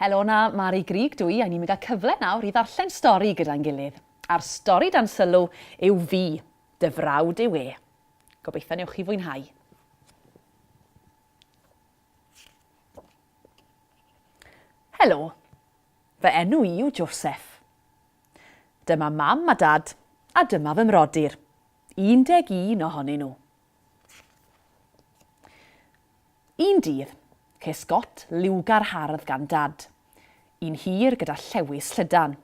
Helona, Mari Grig dwi, a ni'n mynd â cyfle nawr i ddarllen stori gyda'n gilydd. A'r stori dan sylw yw fi, dy frawd yw e. Gobeithio newch chi fwynhau. Helo, Fy enw i yw Joseph. Dyma Mam a Dad, a dyma fy mhrodyr, 11 ohonyn nhw. Un dydd, ces got liwgar hardd gan Dad, un hir gyda llewys llydan.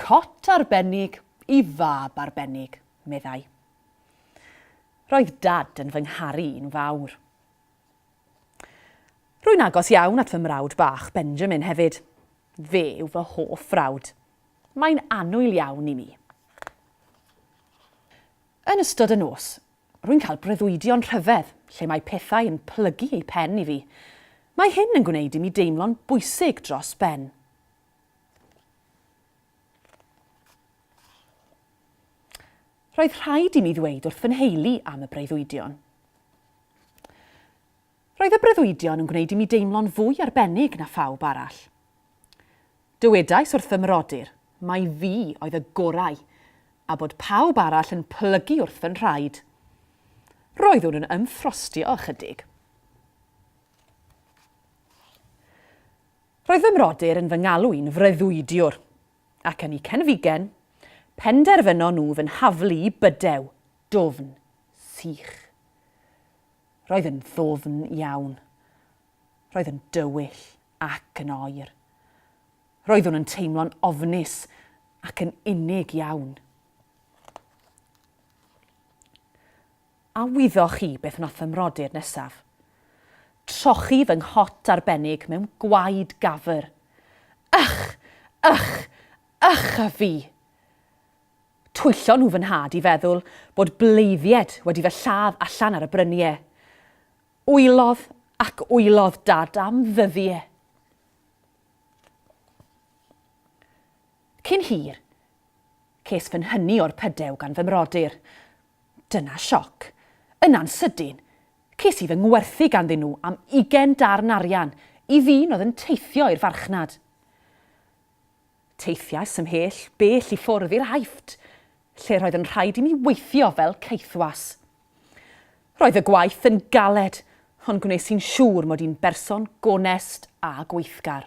Cot arbennig i fab arbennig, meddai. Roedd Dad yn fy ngharu i'n fawr. Rwy'n agos iawn at fy mrawd bach, Benjamin, hefyd. Fe yw fy hoff frawd. Mae'n annwyl iawn i mi. Yn ystod y nos, rwy'n cael breuddwydion rhyfedd lle mae pethau yn plygu eu pen i fi. Mae hyn yn gwneud i mi deimlo'n bwysig dros ben. Roedd rhaid i mi ddweud wrth fy nheulu am y breuddwydion. Roedd y breuddwydion yn gwneud i mi deimlo'n fwy arbennig na phawb arall. Dywedais wrth fy mrodyr mai fi oedd y gorau a bod pawb arall yn plygu wrth fy nhraed. Roeddwn yn ymffrostio ychydig. Roedd fy mrodyr yn fy ngalw i'n freuddwydiwr. ac yn y cenfigen, penderfynon nhw fy nhaflu i bydew, dwfn, sych. Roedd yn ddwfn iawn. Roedd yn dywyll ac yn oer. Roeddwn yn teimlo'n ofnus ac yn unig iawn. A wyddoch chi beth wnaeth fy mrodyr nesaf? Trochi fy nghot arbennig mewn gwaed gafr. Ych! Ych! Ych a fi! Twyllon nhw fy nhad i feddwl bod bleiddied wedi fy lladd allan ar y brynie. Wylodd ac wylodd Dad am ddyddie. Cyn hir, ces fy nhynnu o'r pydew gan fy mrodyr. Dyna sioc. Yna'n sydyn, ces i fy ngwerthu ganddyn nhw am ugain darn arian i ddyn oedd yn teithio i'r farchnad. Teithiais ymhell bell i ffwrdd i'r Aifft, lle roedd yn rhaid i mi weithio fel caethwas. Roedd y gwaith yn galed, ond gwnes i'n siŵr mod i'n berson gonest a gweithgar.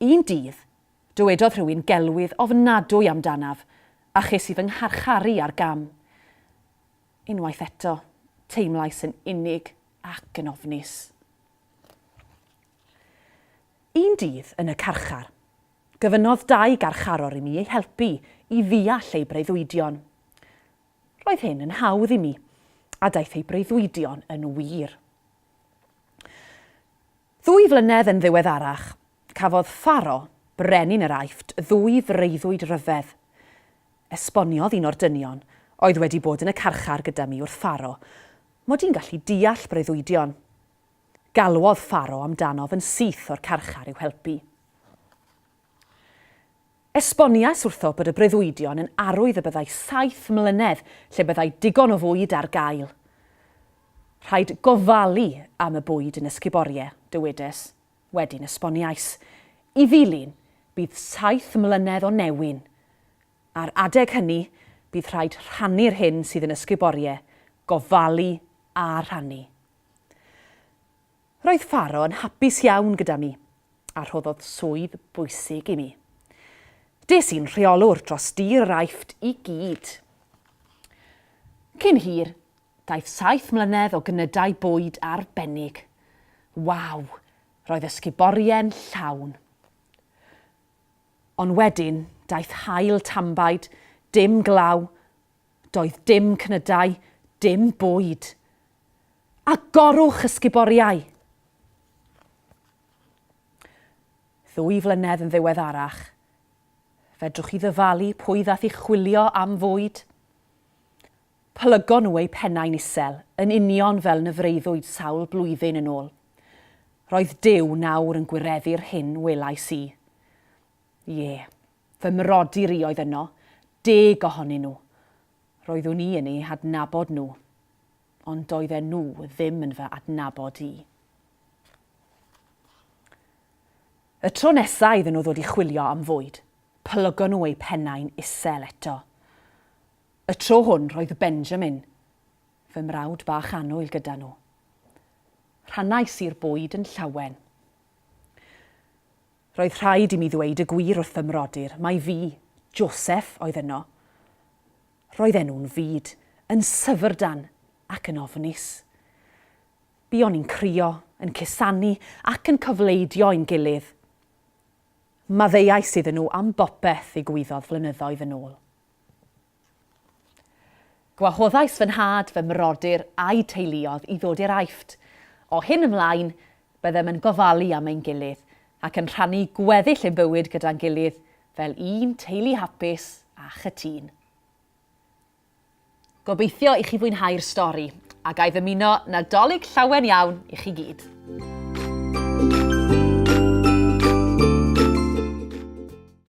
Un dydd, dywedodd rhywun gelwydd ofnadwy amdanaf, a ches i fy ngharcharu ar gam. Unwaith eto, teimlais yn unig ac yn ofnus. Un dydd yn y carchar, gofynnodd dau garcharor i mi eu helpu i ddeall eu breuddwydion. Roedd hyn yn hawdd i mi, a daeth eu breuddwydion yn wir. Ddwy flynedd yn ddiweddarach, cafodd Faro, brenin yr Aifft, ddwy freuddwyd ryfedd. Esboniodd un o'r dynion, oedd wedi bod yn y carchar gyda mi, wrth Faro, mod i'n gallu deall breuddwydion. Galwodd Faro amdanof yn syth o'r carchar i'w helpu. Esboniais wrtho bod y breuddwydion yn arwydd y byddai saith mlynedd lle byddai digon o fwyd ar gael. Rhaid gofalu am y bwyd yn Escuborie, dywedes. Wedyn esboniais i ddilyn bydd saith mlynedd o newyn. Ar adeg hynny, bydd rhaid rhannu'r hyn sydd yn Escuborie, gofalu a rhannu. Roedd Faro yn hapus iawn gyda mi, a rhoddodd swydd bwysig i mi. Des i'n rheolwr dros dir yr Aifft i gyd. Cyn hir, daeth saith mlynedd o gnydau bwyd arbennig. Waw, roedd ysguborie'n llawn. Ond wedyn, daeth haul tanbaid, dim glaw, Doedd dim cnydau, dim bwyd. Agorwch y sguboriau! Ddwy flynedd yn ddiweddarach, fedrwch chi ddyfalu pwy ddaeth i chwilio am fwyd? Plygon nhw eu pennau'n isel, yn union fel na freuddwyd sawl blwyddyn yn ôl. Roedd Duw nawr yn gwireddu'r hyn welais i. Ie, Fy mrodyr i oedd yno, deg ohonyn nhw. Roeddwn i yn eu hadnabod nhw, ond doedden nhw ddim yn fy adnabod i. Y tro nesa iddyn nhw ddod i chwilio am fwyd, plygon nhw eu pennau'n isel eto. Y tro hwn roedd Benjamin, fy mrawd bach annwyl, gyda nhw. Rhannais i'r bwyd yn llawen. Roedd rhaid i mi ddweud y gwir wrth fy mrodyr mai fi, Joseph, oedd yno. Roedd enw'n fud, yn syfrdan ac yn ofnus. Buon ni'n crio, yn cusanu ac yn cofleidio ein gilydd. Maddeuais iddyn nhw am bopeth ddigwyddodd flynyddoedd yn ôl. Gwahoddais fy nhad, fy mrodyr a'u teuluoedd i ddod i'r Aifft. O hyn ymlaen, byddem yn gofalu am ein gilydd ac yn rhannu gweddill ein bywyd gyda'n gilydd fel un teulu hapus a chytûn. Gobeithio i chi fwynhau'r stori, a ga i ddymuno Nadolig llawen iawn i chi gyd.